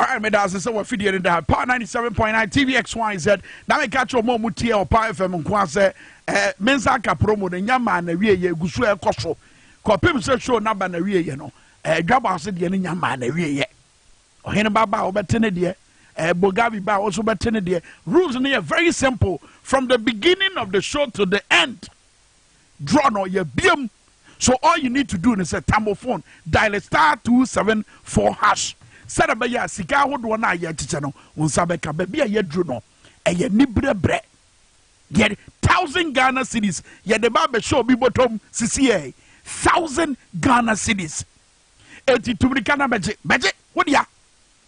All right, me das sɛ wafi deɛ no da power 97.9 tvxyz na meka kyerɛ ɔma ɔmu tie ɔpa fm nko a sɛ eh, me nsa nka promo no nya maa na wieɛ ɛgu so ɛkɔ so kɔpem sɛ show no aba na wieɛ no eh, dwa baa so deɛ no nya maa na wieɛ ɔhene ba ba a wɔbɛte ne deɛ eh, bogavi ba a wɔso bɛte ne deɛ rules no yɛ very simple from the beginning of the show to the end draw no yɛ biam so all you need to do ne sɛ tambo phone dial star two seven four hash sɛdɛ bɛyɛ a sika ahodoɔ no a yɛkyekyɛ no wo nsa bɛka baabi a yɛduru no ɛyɛ nibrɛbrɛ yɛ thousand Ghana cities yɛde ba abɛhyɛ obi bɔtɔm sisi yɛ thousand Ghana cities. Enti tu mirika na bɛgye, bɛgye, wo dea.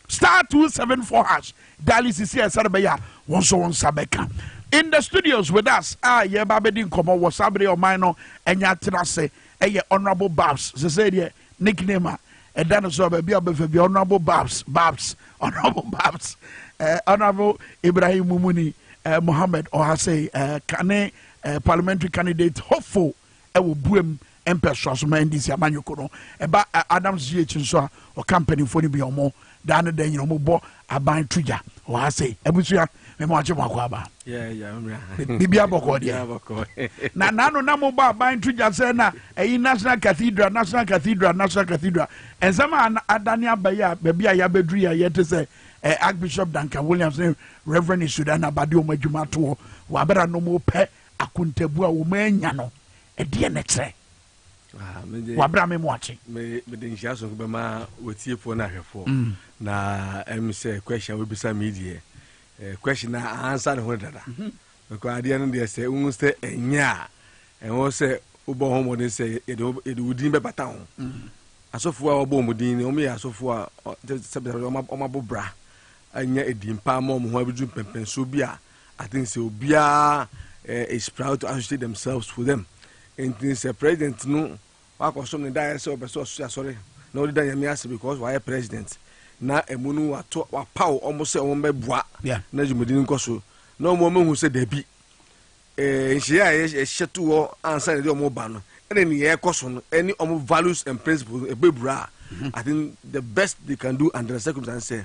Star two seven four hash dial sisiɛ sɛde bɛyɛ a wo nso wo nsa bɛka. In the studios with us a yɛreba abɛdi nkɔmmɔ wɔ saa bere ɔman no anya atena ase ɛyɛ Honourable Babs sɛsɛ deɛ nickname a ɛda no so baabi a ɔbɛfa bi Honourable Babs Babs Honourable Babs eh, Honourable Ibrahim Mumuni eh, Mohammed Ohasei eh, kane eh, parliamentary candidate hopeful ɛwɔ buam mpɛsoa so ma NDC amanyɔkuo no. Ɛba Adams GH nso a, ɔka mpanimfoɔ no bi a wɔn daa ne da nyina wɔbɔ aban to gya wɔ ha sei. Abusua, mema wakye mo akɔ aba. Biribi abɔkɔ deɛ. Na n'ano na mo bɔ aban to gya sɛ na ɛyi National Cathedral, National Cathedral, National Cathedral. Nsɛm a adane aba yi a baabi a yɛabɛduru yi a yɛte sɛ eh, Archbishop Duncan Williams ne Reverend Isudan Abade wɔn adwuma atoɔ wɔ abɛra no mo pɛ akontabu a wɔn anya no Ɛdeɛn na ɛkyerɛ? Ah, wabra me mu ate mede nhyira sonko bɛma wɔtiefoɔ no ahwɛfoɔ mm. na ɛm sɛ question a wobisa me deɛ eh, question a ansa ne ho dada mhm. because adeɛ no deɛ sɛ wohu sɛ ɛnyɛ a ɛwɔ sɛ wobɔ ho mmɔden sɛ yɛde wo din bɛbata ho mm. asɔfoɔ a wɔbɔ mu din no wɔyɛ asɔfoɔ a sɛbɛsɛbɛ wɔmabo bra anya ɛdin paa ma ɔmo ho abɛduru mpɛmpɛnsoɔ bi a I think sɛ obiara eh, is proud to associate themselves with them. Nti sɛ president no wakɔsom ne daeɛ sɛ ɔpɛ sɛ ɔso asɔre na ɔde da nyame ase because wayɛ president na ɛmu no wato wapaw ɔmo sɛ ɔmo bɛboa yeah. na dwumadi no nkɔ so na ɔmo ɔmo hu sɛ dabi eh, nhyɛ a yɛhyɛ to hɔ ansa na ɛde ɔmo ba no ɛna ne yɛkɔ so no ɛne ɔmo values and principles ɛbɛbura a mm-hmm. I think the best they can do under the circumstances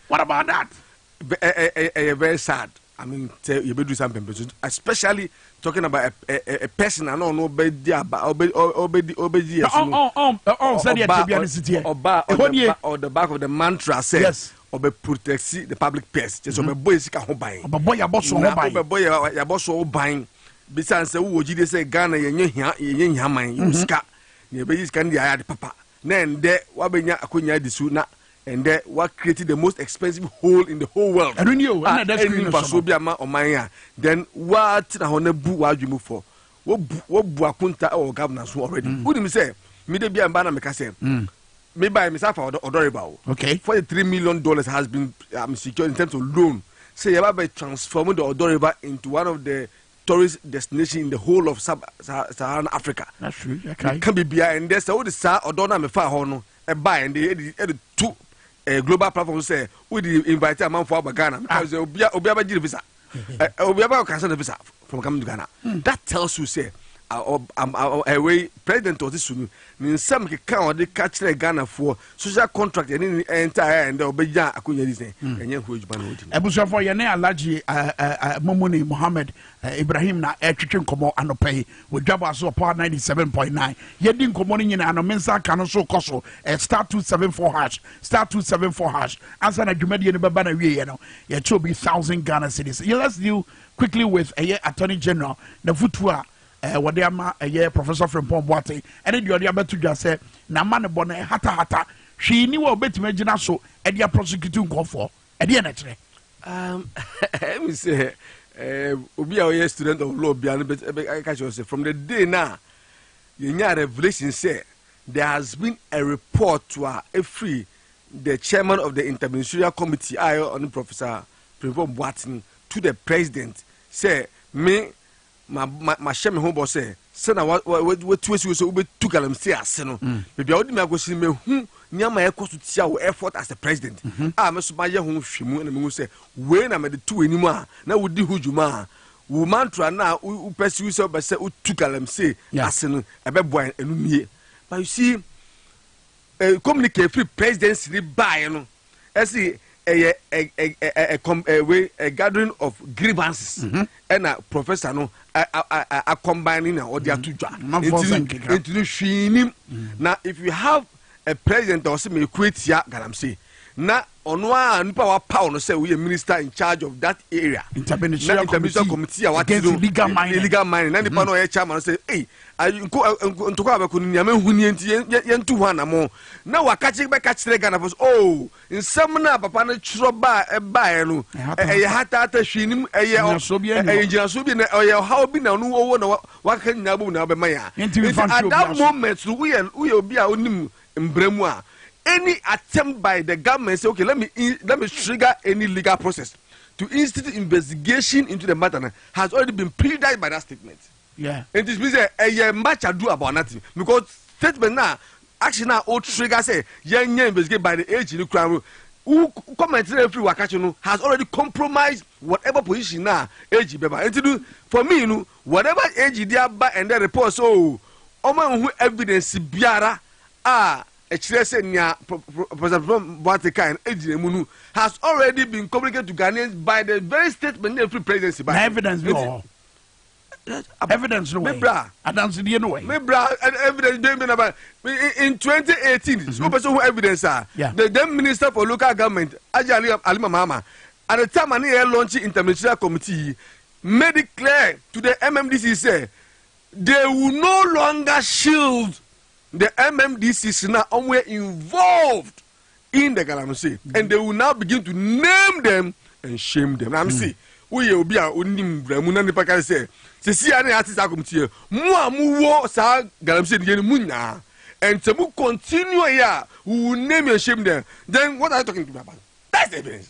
What about that? Ɛyɛ very sad. I mean, sɛ yɛbɛduru saa mpɛmpɛ so especially talking about a, a, a person a na ɔno ɔbɛdi aba ɔbɛdi ɔbɛdi yɛ so no sɛdeɛ tebea no si teɛ ɔba on the back of the mantra sɛ yes. ɔbɛ protect the public purse kyɛ sɛ ɔbɛbɔ yɛ sika ho ban ɔbɛbɔ yɛabɔ so ho ban na ɔbɛbɔ yɛabɔ so ho ban bisan sɛ wowɔ gyidie sɛ ghana yɛnyɛ hia yɛnyɛ hia man yɛwɔ sika na yɛbɛyi sika no de ayɛ ade papa Na ɛndɛ wabɛnya akwanya adi so na ɛndɛ wa create the most expensive hole in the whole world a ɛnni mfasoɔ bi a ma ɔman a then wa tena hɔ na bu w'adwene mu fɔ wo bu akonta wɔ governor so already mm. wonim sɛ me da bia mba na meka sɛ mm. me ba me sa fa ɔdɔ reba o okay. 43 million dollars has been um, secured in terms of loan sɛ yɛba bɛ transform the ɔdɔ river into one of the tourist destination in the whole of sub saharan africa meka biribiaa ɛndɛ sɛ wode saa ɔdɔ no a mefaa hɔ no ɛbaa ɛnde ɛde to eh, global platform sɛ wode invite amanfoɔ aba ghana meka ah. sɛ obia obia bɛgye ne visa eh, eh, obia bɛkɔ kasa ne visa from coming to ghana hmm. that tells you sɛ ɛwei president ɔte su no ne nsɛm keka ɔde ka kyerɛ ghanafoɔ social contract ɛne ne ɛnta ɛ ɛndɛ ɔbɛgya akonnwa di sɛ ɛnyɛ nkɔ adwuma na ɔdi abusuafoɔ yɛne alagye momuni mohammed ibrahim na ɛtwetwe nkɔmmɔ anɔpa yi wɔdwa bɔ aso ɔpɔ 97.9 yɛdi nkɔmmɔ no nyinaa no me nsa aka no so kɔ so star 274 hash star 274 hash ansa na dwumadie no bɛba na wieɛ no yɛkyɛ obi 1000 ghana cities let's deal quickly with ɛyɛ attorney general na futuo a eh, wɔde ama ɛyɛ professor frimpɔn boate ɛne deɛ ɔde abɛto dwa sɛ n'ama ne bɔ no ɛhatahata hwee ni wɔ ɔbɛtumi agyina so ɛde aprosecute nkɔfoɔ ɛdeɛ na ɛkyerɛ um, ɛmi sɛ eh, obi a ɔyɛ student of law bia no ɛka kyerɛ sɛ from the day na yɛnya revelation sɛ there has been a report to a ɛfiri the chairman of the interministerial committee a ɛyɛ ɔne professor frimpɔn boate no to the president sɛ me ma ma mahyɛ me ho bɔ sɛ sɛna wa wa watu asi wo sɛ wobɛtu galamsey ase no mm. baabi a wode me akɔsi no mahu nneɛma a ɛkɔ so tia wo effort as a president mhm. a me so mayɛ ho hwɛ mu na mehu sɛ wei na mede to w'anim a na wodi ho dwuma a wo mantra no a wopɛ si wo sɛ wobɛ sɛ wotu galamsey ase no ɛbɛboa ɛno nie but you see Eh, communique firi presidency ni baeɛ no ɛsi ɛyɛ eh, eh, eh, eh, eh, com, eh, wei, eh, gathering of grievances mhm. ɛna professor no akɔmban ne na ɔde ato dwa nti no hwee nim na if you have a president a ɔsɛ meku atia galamsey na Ɔno ara nipa a wapaw no sɛ oyɛ minister in charge of that area. Interministerial, interministerial committee a wate no illegal mining. Illegal mining. Na nipa mm. no ɔyɛ chairman sɛ ei ntɔkwa a bɛkɔ no nea mehu nie nti yɛntu ho anamo. Na wakakye bɛka kyerɛ Ghana fo so o oh, nsɛm no a papa no twerɛ baa ɛbaeɛ no ɛyɛ hataata hwee nim ɛyɛ ɛyɛ gyinasoɔ bi na ɔyɛ ɔhaw bi na ɔno ɔwɔ na wakaka nyinaa bom na ɔbɛma yɛ a. Nti at that moment no woyɛ woyɛ obi a onim mbra mu a, any attempt by the government say okay let me in, let me trigger any legal process to institute investigation into the matter no has already been predicted by that statement. Yeah. Nti simi sɛ ɛyɛ match adu about nothing because statement na action na o trigger sɛ yɛn nyɛ investigate by the age ni kura no who comment na efiri wakakye no has already compromised whatever position na age bɛba nti no for me no Whatever age de aba ɛndɛ reports oo, wɔma nhu evidence biara a ɛkyerɛ sɛ nea Professor Frimpong Boateng kae no gyina mu no has already been communicated to Ghanaians by the very statement na efiri presidency bae. Na evidence bi wɔ hɔ? Evidence no wɔ he? Mebra. Adansedie no wɔ he? Mebra evidence bɛn bi na ba in 2018 mhm. sɛ wopɛ sɛ wohu evidence a the then minister for local government Agya Alima Mahama at the time a ne yɛ launch interministerial committee made it clear to the MMDC sɛ they will no longer shield the MMDCs na wɔyɛ involved in the galamsey and they will now begin to name them and shame them. Na mese woyɛ obi a onim wura mu na nipa ka sɛ sisi a na yɛate saa akɔmtiɛ mu a mu wɔ saa galamsey no yɛ no mu nyaa and sɛ mu continue yɛ a we will name and shame them then what are you talking to me about? That's the evidence.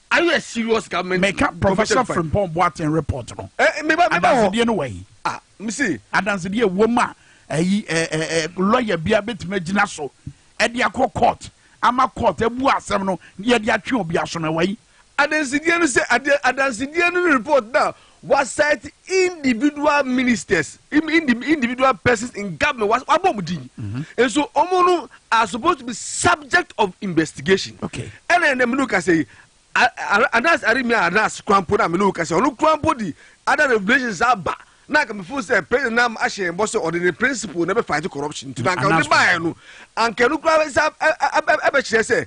Are you a serious government? Meka Professor Frimpong Boateng report no. Eh, eh, meba, meba hɔ. Adansedie no wɔ yi. Ah, msi. Adansedie wɔ mu a, ɛyi, eh, eh, eh, lawyer bia betumi agyina so, ɛde akɔ court, ama court abu asɛm no, yɛde atwe obi aso no wɔ yi. Adansedie no sɛ, adansedie no report na Wɔaset individual ministers, individual persons in government, wɔabɔ wɔn din. Nso wɔn no are supposed to be subject of investigation. Ɛna ɛna mene kasa yi, Anas Arimia Anas Krampo na mene kasa ɔno Krampo di other revelations aba na anka mefo sɛ president nam ahyɛ yɛn bɔ sɛ ɔde ne principle na ɛbɛ fight corruption nti na anka ɔde baeɛ no anka ɛno koraa sɛ ɛbɛkyerɛ sɛ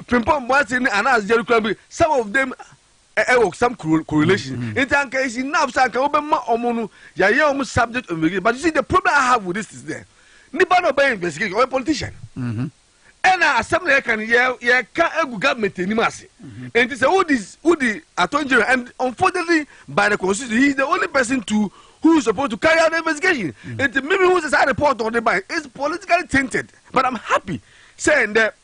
Frimpong Boateng ne Anas Jerry Krampo some of them ɛwɔ some correlation mm-hmm. nti anka is enough sɛ anka wobɛma ɔmo no yɛayɛ ɔmo subject of investigation but you see the problem i have with this is there nipa na ɔbɛyɛ investigation ɔyɛ politician mm-hmm. ɛna asɛm na yɛka no yɛka agu government anim ase mm-hmm. nti sɛ wodi wodi attorney general and unfortunately by the constitution he is the only person to who is supposed to carry out the investigation nti mímí hu sɛ saa report ɔde ban is politically tainted but i'm happy sɛ ndɛ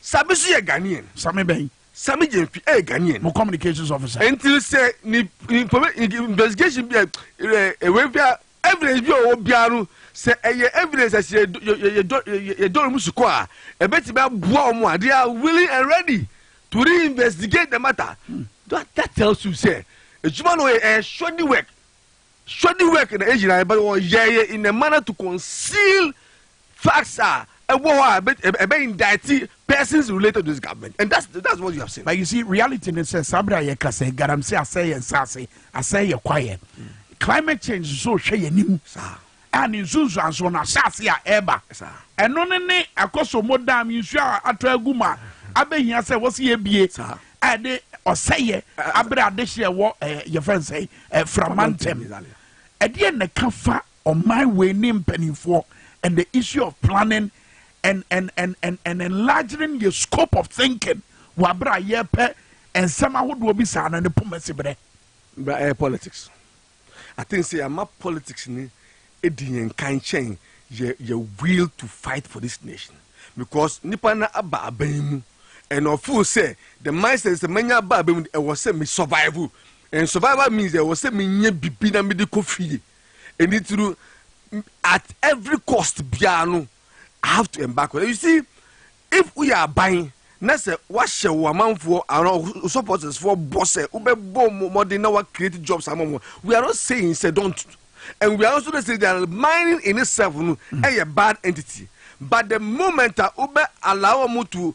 Sami nso yɛ Ghanaian. Sami bɛn? Sami Gyamfi yɛ Ghanaian. Mo communications officer. Nti sɛ ni investigation bi a ɛwɛ bi a evidence bi a ɔwɔ biara no sɛ ɛyɛ evidence a sɛ yɛdɔ wɔn sukɔ a ɛbɛtumi aboa wɔn a they are willing and ready to reinvestigate the matter. Hmm. That, that tells you sɛ adwuma no yɛ ɛyɛ shoddy work shoddy work na egyina but ɔyɛ yɛ in a manner to conceal facts a ɛwɔ hɔ a ɛbɛ ɛbɛ indict persons related to this government and that's that's what you have seen. but you see reality ni sɛ saa bere a yɛka sɛ galamsey asɛe yɛn nsaase asɛe yɛ kwaeɛ climate change nso hwɛ yɛn anim saa a ne nsunsuansoɔ no ahyɛ ase a ɛreba saa ɛno ne ne akɔsɔmɔ dam nsuo a atɔ agu mu a abɛhia sɛ wɔsi yɛ bie saa a ɛde ɔsɛeɛ abere adehyeɛ wɔ ɛɛ yɛfɛ nsɛe ɛɛ frama ntɛm ɛdeɛ na ɛka fa Ɔman wei ne mpanimfoɔ and the issue of planning and and and and and enlarging your scope of thinking wɔ abere a yɛpɛ nsɛm ahodoɔ bi saa na ne poma si brɛ. Bra ɛyɛ politics. I think sɛ yɛama politics ni edi yɛn kan kyɛn yɛ yɛ will to fight for this nation because nipa na aba aban mu and ɔfo sɛ the mindset sɛ manya aba aban mu ɛwɔ sɛ me survival and survival means ɛwɔ sɛ menya bibi na mede kɔ fie. Ɛno nti no, at every cost biara no, I have to embark on it. You see, if woyɛ aban na sɛ woahyɛ wo amanfoɔ anaa wo supportersfoɔ bɔ sɛ wobɛbɔ mmɔden na wa create jobs ama wɔn, we are not saying sɛ don't and we are also not saying that mining in itself no ɛyɛ bad entity but the moment a wobɛ allow wɔn to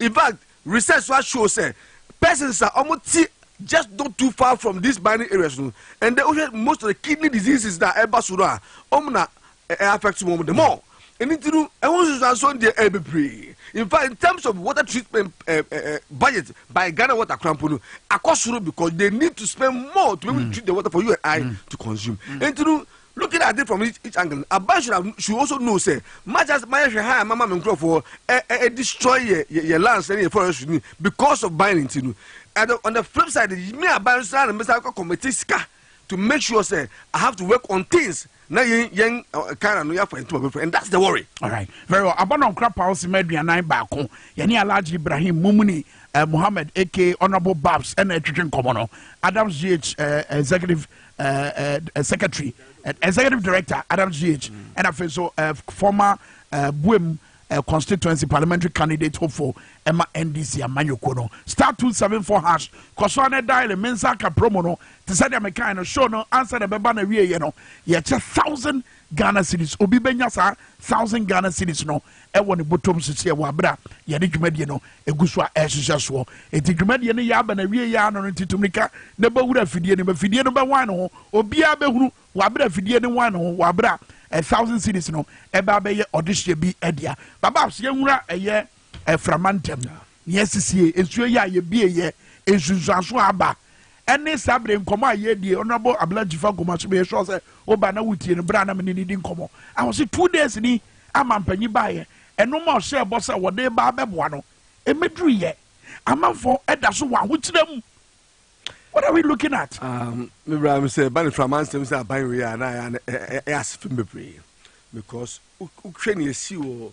In fact, research nso a show sɛ persons a wɔte just not too far from these mining areas no, and then wohwɛ most of the kidney diseases na ɛba so no a, wɔn na ɛ affect wɔn the more. Ɛno nti no, ɛho nsunsuansoɔ no deɛ ɛyɛ bebree. In fact, in terms of water treatment uh, uh, budget by Ghana Water Krampo no, akɔ soro because they need to spend more to be able to treat the water for you and I to consume. Ɛnti no, Looking at it from each each angle no, aban should have should also know sɛ much as mayɛ hwɛ ha a mama me nkurɔfoɔ ɛ ɛ ɛ destroy yɛ yɛ yɛ lands ne yɛ forest ni because of ban nti no at the on the flip side me aban nso ara na mbɛsa akɔ committee sika to make sure sɛ I have to work on things na yɛn yɛn ɛ kan na no yɛafa yɛn ntoma bɛfra and that's the worry. alright very well abanɔnkora paul sima aduanan baako yɛne alhaji ibrahim mumuni eh, mohammed aka honourable babs ɛna ɛtwetwe nkɔmmɔ no adams gh eh, executive uh, uh, uh, secretary, uh, executive director Adam Ziyech, mm. and I feel so uh, former uh, Buem uh, constituency parliamentary candidate hopeful Emma NDC Amanyoko no star two seven four hash kɔsɔ ne dial mensa ka promo no te sɛ deɛ mekan no show no ansa na ɛbɛba na wie yɛ no yɛkyɛ thousand Ghana cedis. Obi bɛnya saa thousand Ghana cedis no wɔ ne bɔtɔm sisi a wɔ abere a yɛde dwumadie no egu so a ɛrehyehyɛ soɔ. Eti dwumadie no yɛ aba na awie yɛ ano no nti tumirika na bɔ wura afidie no mu. Afidie no bɛwan ne ho. Obiara bɛhunu wɔ abere a afidie no wan ne ho wɔ abere a ɛ thousand cedis no ɛbɛ abɛyɛ ɔdehyeɛ bi dea. Babas, yɛnwura ɛyɛ ɛframa ntɛm. Nea asisie, nsuo yi a yɛbie yɛ nsunsuanso a aba ɛne saa bere nkɔmmɔ a yɛredi yi. Honourable Abla Jifa Gomaso, meyɛ sure sɛ woba na wotie no bere a na me ne no di nkɔmmɔ. A ɔse two days ni a mampanyin baeɛ, ɛnoɔma a ɔhyɛɛ bɔ sɛ wɔde reba abɛboa no, ɛmmɛduruiɛ. Amanfoɔ da so wɔ ahokyerɛ mu. What are we looking at? Um, me bra me sɛ ba ne frama nsɛm sɛ aban wei a na ɛyɛ asefem bebree because wohwɛ ne ɛsi wɔ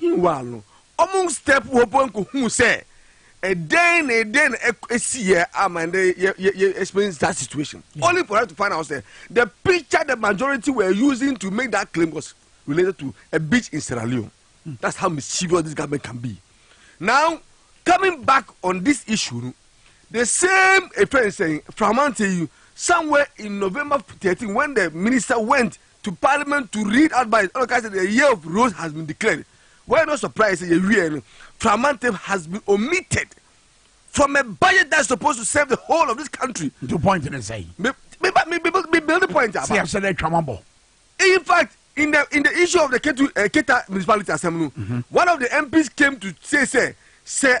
Meanwhile no, wɔn step hɔ mpo nkohuu sɛ ɛdɛn na ɛdɛn na ɛsiiɛ ama ɛdɛ yɛ experience that situation yeah. only for her to find out sɛ the picture the majority were using to make that claim was related to a beach in Sierra Leone mm. that's how mischievous this government can be now coming back on this issue no the same efɛn sɛn framante yi somewhere in November 13 when the minister went to parliament to read advice ɛna ɔka sɛ the year of rose has been declared wɔyɛ no surprise sɛ yɛwiɛ no framantam has been omitted from a budget that's supposed to serve the whole of this country. nti point ne sɛ. me me me me me build point aba. sɛ yɛsɛ dɛ atwa wɔn bɔ. in fact in the in the issue of the ketu uh, eh, keta municipality asɛm no mm -hmm. one of the mps came to say sɛ sɛ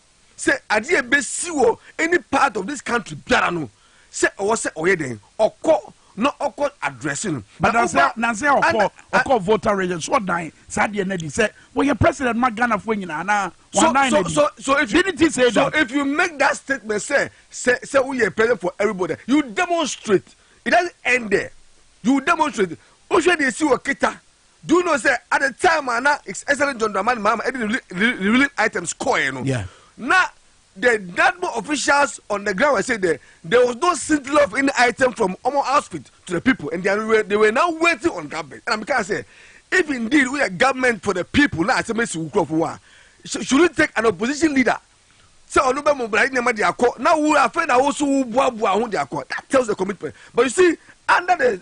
sɛ adeɛ a ɛbɛsi wɔ any part of this country biara no sɛ ɔwɔ sɛ ɔyɛ dɛn ɔkɔ na ɔkɔ address no. but nansɛ nansɛ ɔkɔ ɔkɔ voter registration so ɔdan saa deɛ na di sɛ wɔyɛ president ma ghanafoɔ nyinaa na wɔn nan na di so so if you didn't say that so if you make that statement sɛ sɛ sɛ woyɛ president for everybody you demonstrate it doesn't end there you demonstrate wohwɛ deɛ ɛsi wɔ kita Do you know sɛ at the time a na His Excellency John Dramani Mahama ɛde ne revealing items kɔɛ no, na the NADMO officials on the ground were saying that there was no scintilla of any item from Omo outfit to the people and they were, they were now waiting on government. And I can say, if indeed we are government for the people, na asɛm esi wukura fo wa, should you take an opposition leader? sɛ ɔno bɛ mo bra nneɛma de akɔ na wo afei na woso wo boaboa ho de akɔ that tells the commitment but you see under the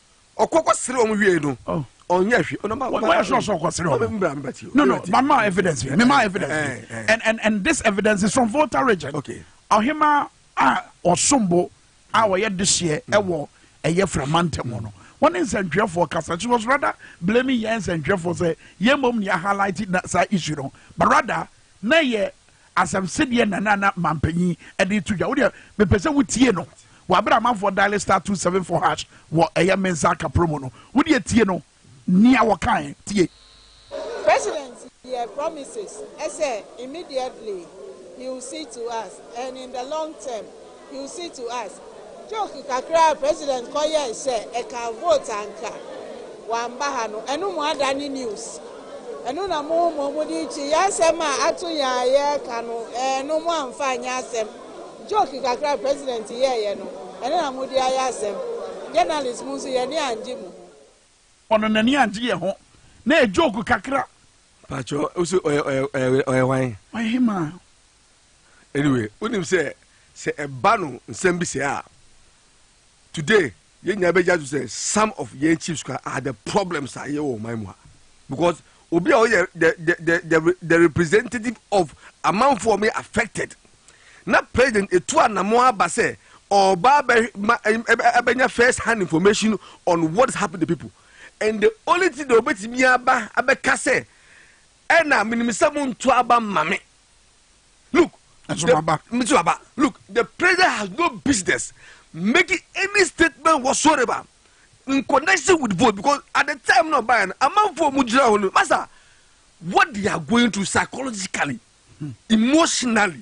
ɔkɔ kɔ sere wɔn wiei no oh. ɔnyɛ hwɛ ɔno ma ma wɔyɛ sure sɛ ɔkɔ sere wɔn mbra mbra ti no no ma ma evidence bi mi ma evidence bi eh, eh. and and and this evidence is from Volta region okay ɔhema a ɔsombo a ɔyɛ dehyɛ ɛwɔ ɛyɛ firamantam hɔ no wɔn ne nsɛntwerɛfoɔ kasa she was rather blaming yɛn nsɛntwerɛfoɔ sɛ yɛn mom ni a highlight na saa issue no but rather na yɛ Asɛm sedeɛ na na na mampanyin de to dwa wodeɛ mepɛ sɛ wotie no wɔ abere amanfoɔ dialing star two seven four hash wɔ ɛyɛ mensa aka promo no wodeɛ tie no nea wɔkae tie. President yɛ promises sɛ immediately he will see to us and in the long term You see to us. Joke kakra a president kɔ yɛe sɛ ɛkaa vote a anka wamba ha no ɛno mo ada ne news ɛno na mo mmom mo de rekyi yɛn asɛm a ato yɛn a yɛreka no ɛɛ no mo amfa anyɛ asɛm joke kakra a president yɛeɛ no ɛno na mo de ayɛ asɛm journalist mo nso yɛn ani angye mo ho. Ɔno n'ani angye yɛn ho na ɛyɛ joke kakra. Pakyɛ wo se ɔyɛ ɔyɛ ɔyɛ wan? Ɔyɛ hemaa? Anyway, wonim sɛ sɛ ɛba no nsɛm bi sɛ a, today yɛn nyinaa bɛgya to sɛ some of yɛn chiefs kora are the problems a yɛwɔ ɔman mu ha because obi a ɔyɛ the the the the, the representative of amanfoɔ mi affected na president etu anamɔ aba sɛ ɔba abɛnya first hand information on what is happening to people and the only thing that obetumi aba abɛka sɛ Ɛna menim sɛ mo nto aba ma me. Look, the, look, the president has no business making any statement whatsoever in connection with vote because at the time no ɔbaeɛ no amanfoɔ mu gyina hɔ no masa what they are going through psychologically hmm. emotionally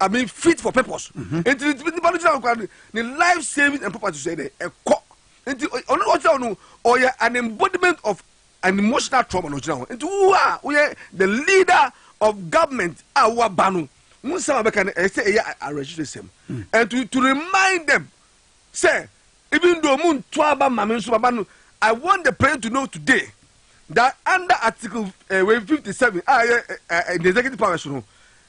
I mean fit for purpose. Mhm. Nti ni tibi nipa ni gyina nkwa ni life saving and property sɛ dɛ ɛkɔ. Nti ɔno na ɔkyerɛ ɔno ɔyɛ an embodiment of an emotional trauma na ɔgyina hɔ. Nti wo a woyɛ the leader of government a woaba no wo nsɛm a bɛka no ɛyɛ sɛ ɛyɛ awerɛhyehwɛ sɛm. Hmm. And to, to remind them sɛ even though mu nto aba ma me nso baba no I want the president to know today that under article uh, eh, 57 a ɛyɛ uh, uh, the executive powers no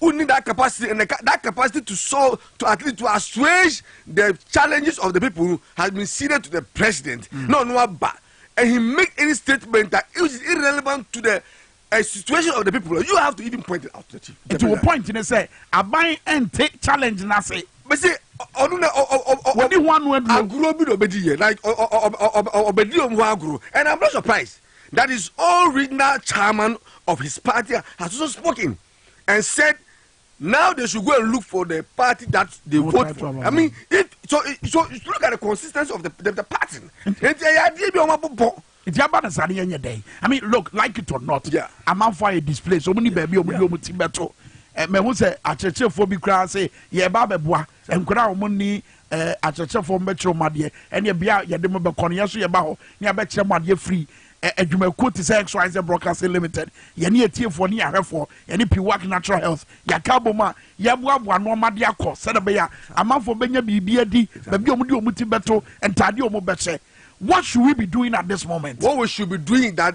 who need that capacity and the, that capacity to solve to at least to assuage the challenges of the people no has been ceded to the president mm. no no aba and he make any statement that is irrelevant to the a situation of the people you have to even point it out to the chief. nti wo point ne sɛ aban ɛnte challenge na se. bɛsi ɔno na wɔde ho ano aduro. agorɔ bi na ɔbɛdi yɛ like ɔbɛdi wɔn ho agorɔ and i'm not surprised that his own regional chairman of his party has also spoken. and said now they should go and look for the party that they no vote for. I mean, it, so it, so look at the consistency of the the, the party. Nti ɛyɛ adeɛ bi a wɔn abobɔ. Nti aba na saa ne yɛn nyɛ dɛ. I mean, look, like it or not, yeah. amanfo ayɛ display. So wɔn ni baabi a wɔn di wɔn ti bɛto. Mɛ ho sɛ akyerɛkyerɛfoɔ bi koraa sɛ yɛreba abɛboa Nkwadaa a wɔnni akyerɛkyerɛfoɔ mbɛkyerɛ wɔn adeɛ ɛne bea a yɛde mo bɛkɔ no yɛn nso yɛba hɔ ne abɛkyerɛ mo adeɛ firi adwumakuo te sɛ XYZ Broadcasting Limited yɛne atiefoɔ ne ahwɛfoɔ yɛne Piwak Natural Health yɛaka abom a yɛboaboa nnoɔma de akɔ sɛdeɛ bɛyɛ a amanfoɔ bɛnya biribi adi baabi a wɔde wɔn ti bɛto ntaadeɛ a wɔbɛhyɛ What should we be doing at this moment? What we should be doing that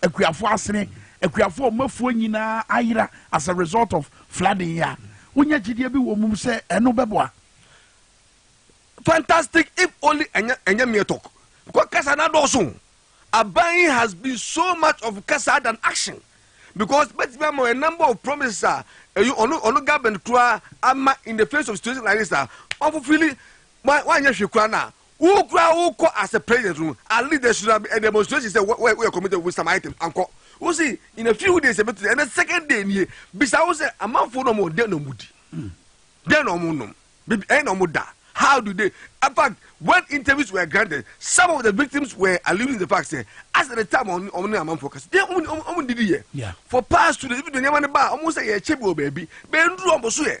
Akuafo Asene, Akuafo a wɔn afuo nyinaa ayera as a result of flooding yi a wonya gyidie bi wɔ mu sɛ ɛno bɛboa. Fantastic if only ɛnyɛ ɛnyɛ mere talk because kasa no adɔɔso. Aban yi has been so much of kasa than action because bɛtumi ama a number of promises a ɛyi ɔno ɔno government koraa ama in the face of situation like this a wɔn fulfilli wɔn wɔanyɛ hwee koraa no a Wo koraa wo kɔ as a president no at least there should have been a demonstration sɛ wo yɛ committed with some items ankɔ wo si in a few days ebi tiri ɛnɛ second day nie bisa wo sɛ amanfoɔ na ɔmo den na ɔmo di den na ɔmo nom bibi ɛyɛ na ɔmo da how do they in fact when interviews were granted some of the victims were alluding to the fact sɛ as the time ɔmo ɔmo ne amanfoɔ kasi den ɔmo ɔmo didi yɛ for past two days ebi de nneɛma ne ba ɔmo sɛ yɛ kyɛ bi wɔ baabi bɛn duro ɔmo so yɛ.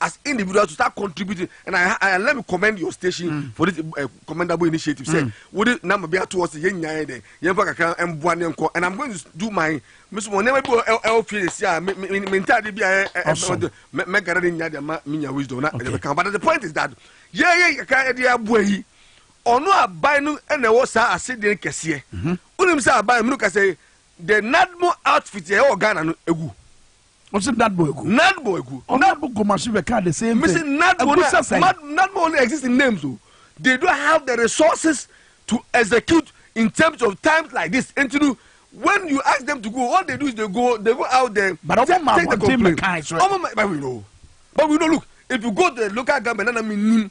as individuals to start contributing and I, I let me commend your station mm. for this uh, commendable initiative say mm. wo de number bi ato hɔ sɛ yɛn nyinaa yɛ dɛ yɛn fa kakra mboa ne nkɔ and I'm going to do my miss mo nneɛma bi wɔ ɛwɔ fie si a me me me ntaade bi a ɛɛ mɛ mɛ gara ne nya de ma me nya wisdom na ɛdɛ bɛ kan but the point is that yɛ yɛ kakra ɛde aboa yi ɔno aban no ɛna ɛwɔ saa ase den kɛseɛ wonim sɛ aban mu no ka sɛ the nadmo outfit yɛ ɛwɔ Ghana no egu. Ɔsi nadbo egu. Nadbo egu. Nadbo gomasi bɛ ka the same thing. Misi nadbo na egusa sɛn. Nadbo only exist in names o. They don't have the resources to execute in terms of times like this. Nti no when you ask them to go all they do is they go they go out there. But ɔmo ma abɔnten bɛ kan so. Ɔmo ma but we know but we know look if you go to the local government nana mi nim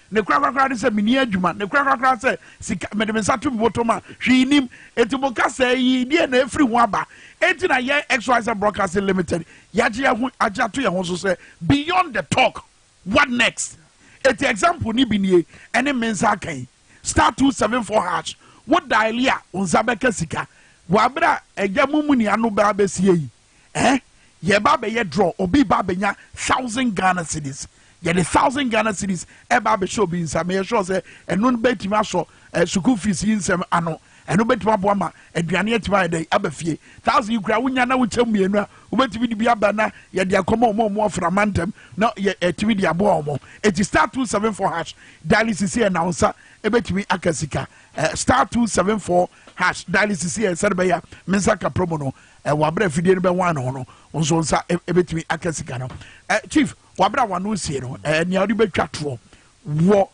Ne korakorakora ne sɛ menni adwuma. Ne korakorakora sɛ sika, mede me nsa to me bɔtɔm a, hwee nnim. Enti mo kasɛɛ yi, deɛn na ɛfiri ho aba? Enti na yɛn XYZ Broadcasting Limited, yɛagye yɛn ho agye ato yɛn ho so sɛ beyond the talk, what next? Enti example no bi nie, ɛne me nsa aka yi, star two seven four hash, wo diale a, wo nsa bɛka sika. Wɔ abere a agya mumuni ano bɛa bɛsie yi. eh yɛreba abɛyɛ draw obi reba abɛnya thousand Ghana cedis yɛde thousand Ghana cedis ɛba abɛhyɛ obi nsa meyɛ sure sɛ ɛno no bɛtumi asɔ eh, sukuu fees yi nsɛm ano ɛno bɛtumi aboa ma aduane atumi ayɛ dɛ aba fie thousand yi koraa wonya na wokyɛ mmienu a wobɛtumi de bi aba na yɛde akɔma ɔmo ɔmo afra mantam na yɛ ɛtumi eh, de aboa ɔmo eti star two seven four hash dialysis yɛ na nsa ɛbɛtumi aka sika eh, star two seven four hash dialysis yɛ sɛde bɛyɛ a me nsa ka promo no Ɛ wabere afidie no bɛ wan ho no nso nsa ɛ ɛbɛtumi aka sika no ɛ chief wabere a wano sie no ɛ nea ɔde bɛtwa toɔ wɔ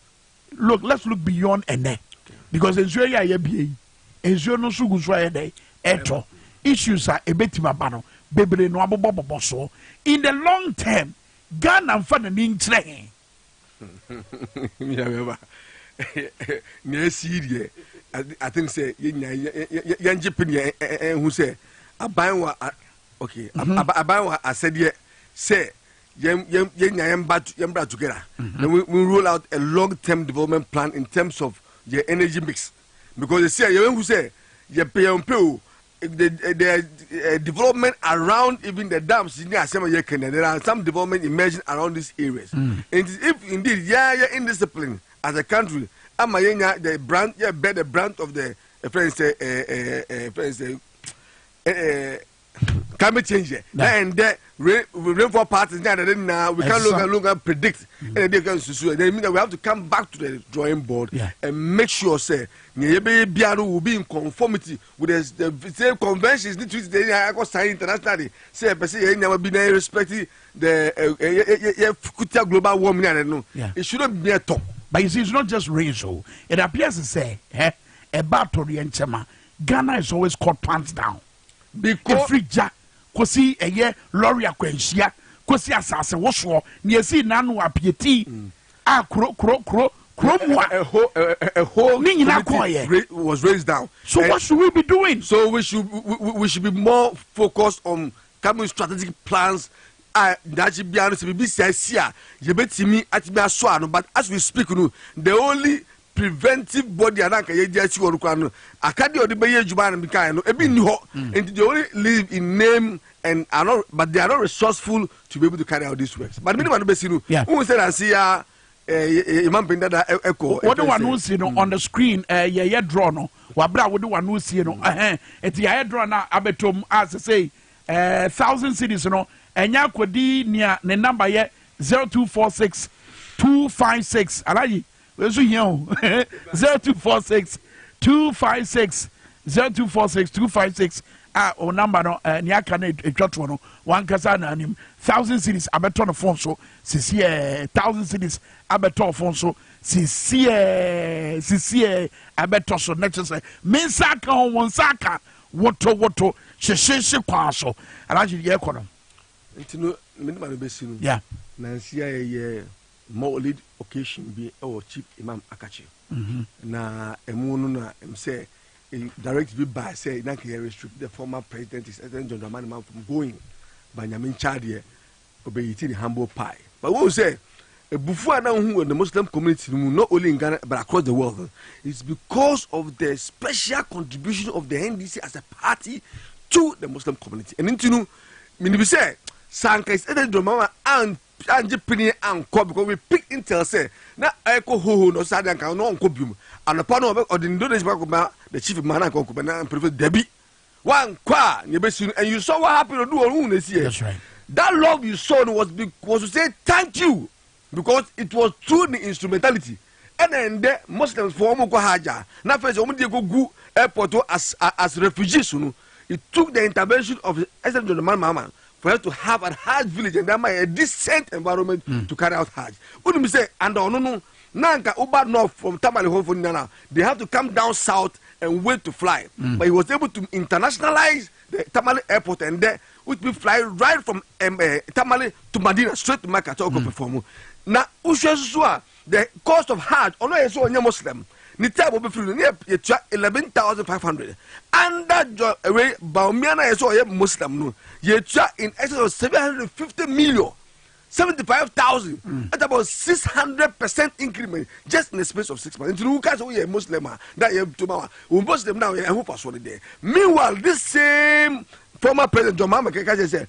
look let's look beyond ɛnɛ because nsuo yɛ a yɛbie yi nsuo no nso gu so a yɛ dɛ ɛtɔ issues a ɛbɛtumi aba no bebree no abobɔ bobɔ soɔ in the long term ghana nfa n'ani nkyerɛ he Yɛbɛba. Nea asi deɛ, I think sɛ yɛn nyinaa yɛngye pene yɛn eh, eh, eh, hu sɛ aban wɔ okay mhm. aban wɔ asɛdeɛ sɛ yɛn yɛn yɛn nyinaa yɛn ba yɛn bra together mhm. na we we roll out a long term development plan in terms of yɛn energy mix because ɛsi a yɛn hu sɛ yɛpɛ yɛn pɛ o. the, the uh, development around even the dams in the asem ye kenya there are some development emerging around these areas mm. and if indeed yeah yeah indiscipline as a country ama yenya the brand yeah bear the brand of the uh, friends uh, uh, uh, friends uh, uh, uh, climate change yɛ na ɛndɛ rain rainfall patterns ní adade na we can look and look and predict ɛna ɛdi ɛka nsusu yɛ then mean that we have to come back to the drawing board yeah. and make sure say ní ɛyɛ bɛyɛ biara will be in conformity With the the same conventions ne treaties de yɛn akɔ sign international de sɛ yɛpɛ sɛ yɛn nneɛma bi na yɛ respect the yɛ yɛ kutia global warming and no yeah. it shouldn't be a talk. But you see it's not just rain so it appears to say eh ɛba atɔre yɛn nkyɛma Ghana is always caught pants down. Because every ja kosi ɛyɛ lorry akwanhyia kosi asase wosoɔ na yɛsi nanu apieti. Mm. a kuro kuro kuro kuro mu a. A whole a, a, a whole. Ne nyinaa kɔɔyɛ. Was raised down. So and what should we be doing? So we should we, we should be more focused on coming strategic plans. a daakye biara no sɛ biribi saa si a yɛbɛtumi atumi aso ano but as we speak no the only preventive body a na anka yɛgye asi hɔ no koraa no akadeɛ a ɔde bɛyɛ adwuma no mekaeɛ no ebi nni hɔ mm. nti they only live in name and are not but they are not resourceful to be able to carry out these works but mene ma no bɛsi no wohu sɛ nanse ya yɛma mpɛn dada ɛkɔ wode wano si no on the screen eh, yɛyɛ draw no waberɛ a wode wano sie no ɛti mm. yɛayɛ draw no a abɛtom a sɛ sei eh, thousand cities no ɛnyɛ akɔdi nea ne number yɛ 0246 256 alayi Wei nso hia o. zero two four six two five six zero two four six two five six a o namba no eh, nea aka no atwa toɔ no wankasa na anim thousand cities abɛtɔ no fon so sisiɛ thousand cities abɛtɔ fon so sisiɛ sisiɛ abɛtɔ so na kyerɛ sɛ me nsa aka ho wɔn nsa aka woto woto hyehyehye kwan so alagye yɛ kɔ no. nti no mede ma no bɛsi no nansi a ɛyɛ Mawlid occasion bi wɔ Chief Imam Akatchy. Na ɛmu no na ɛm sɛ direct bi baa sɛ na nka yɛ restrict the former president his excellent John Dramani Mahama from going ba nyame nkyadeɛ ɔbɛyiti ne humble pie. But wɔn sɛ ebufu a na wohu wɔ the Muslim community no mu not only in Ghana but across the world no is because of the special contribution of the NDC as a party to the Muslim community. Ɛno nti no menim sɛ sɛ anka his excellent John Dramani Mahama Angye penee ankɔ because we pick intel sɛ na ɛkɔ hoho no saa de anka na ɔnkɔ biom anɔpa no ɔde ne donation ba kɔma the chief ma na anka ɔnkɔ bɛ na mpanyinfo dabi wankɔ a na ebesi no and you saw what happened odu ɔhun na esi yɛ that love you saw no was was to say thank you because it was through the instrumentality Ɛna ɛndɛ Muslims foɔ wɔn kɔ hajj a na afei sɛ wɔn deɛ kɔ gu airport hɔ as as refugees no it took the intervention of SN John Dramani Mahama for us to have an hajj village and ama a decent environment mm. to carry out hajj. Wonim sɛ anda ɔno no na nka woba north from Tamale hɔ fo nyinaa they have to come down south and wait to fly mm. but he was able to internationalize the Tamale airport and there would be fly right from um, uh, Tamale to Madina straight to Mecca to mm. perform. Na wohwɛ soso a The cost of Hajj, ɔno a yɛn sɛ ɔnyɛ Muslim, ne time a ɔbɛfiri no, ne yɛtua eleven thousand five hundred. Under John ɛwɛ Baumia no a yɛn sɛ ɔyɛ Muslim no, yɛtua in excess of seven hundred and fifty million. 75,000 mm. at about 600 percent increment just in the space of six months. Until you can't say Muslim ah, that you to my Muslim now. I hope I saw it there. Meanwhile, this same former president John Mahama Kekase said,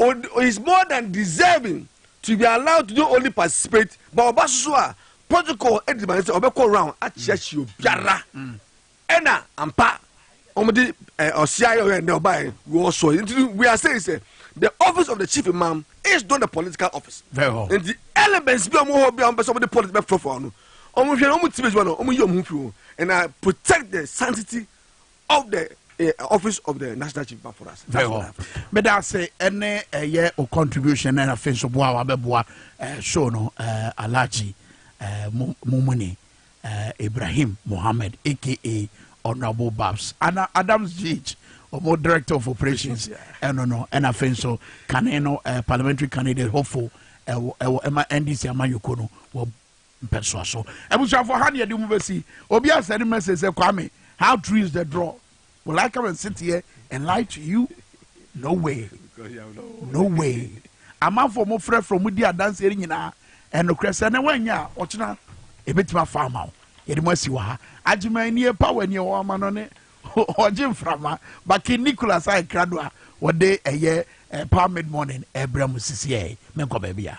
Ɔde is more than deserving to be allowed to not only participate but ɔba so so a protocol de ma no sɛ ɔbɛkɔ round akyeakyea obiara ɛna ampa wɔn de ɔsia yɛ ɔyɛ ndɛ ɔbaeɛ wɔ so nti no we are saying sɛ the office of the chief imam is not a political office Very well. nti elements bi a wɔn wɔ hɔ bi a wɔn pɛ sɛ wɔn de politics bɛ fɔfɔ no wɔn hwɛ na wɔn ti bɛ sɛ wɔn wɔn yi wɔn ho fi ho and I protect the sanctity of the eh, office of the national chief man for us. Very well. But I say any uh, eh, yeah or contribution and a fin so boa wa beboa eh, show no uh, Alaji uh, Mumuni uh, Ibrahim Mohammed aka Honorable Babs Anna Adams Gage or director of operations and yeah. no no and a fin so can you know uh, parliamentary candidate hopeful ɛwɔ ɛma ndc ama yoko no wɔ Mpɛsoa so. Abusuafo ha ne yɛde mu besi. Obi a send message sɛ Kwame, how true is the draw? Will I come and sit here and lie to you? No way. No way. Amanfo a wɔn frɛfrɛ wɔn di adanse no nyinaa ɛnokorɛ sɛ na wɔnyɛ a ɔkyena ebetumi afa ama wo. Yɛde mu asi wɔ ha. Agyeman nie pa wɔ nie wɔn ama no ne ɔgye mframa. Baki Nicholas a ɛkra do a wɔde ɛyɛ eh, power mid morning ɛbrɛ mu sisi ɛyɛ. Menkɔ baabi a.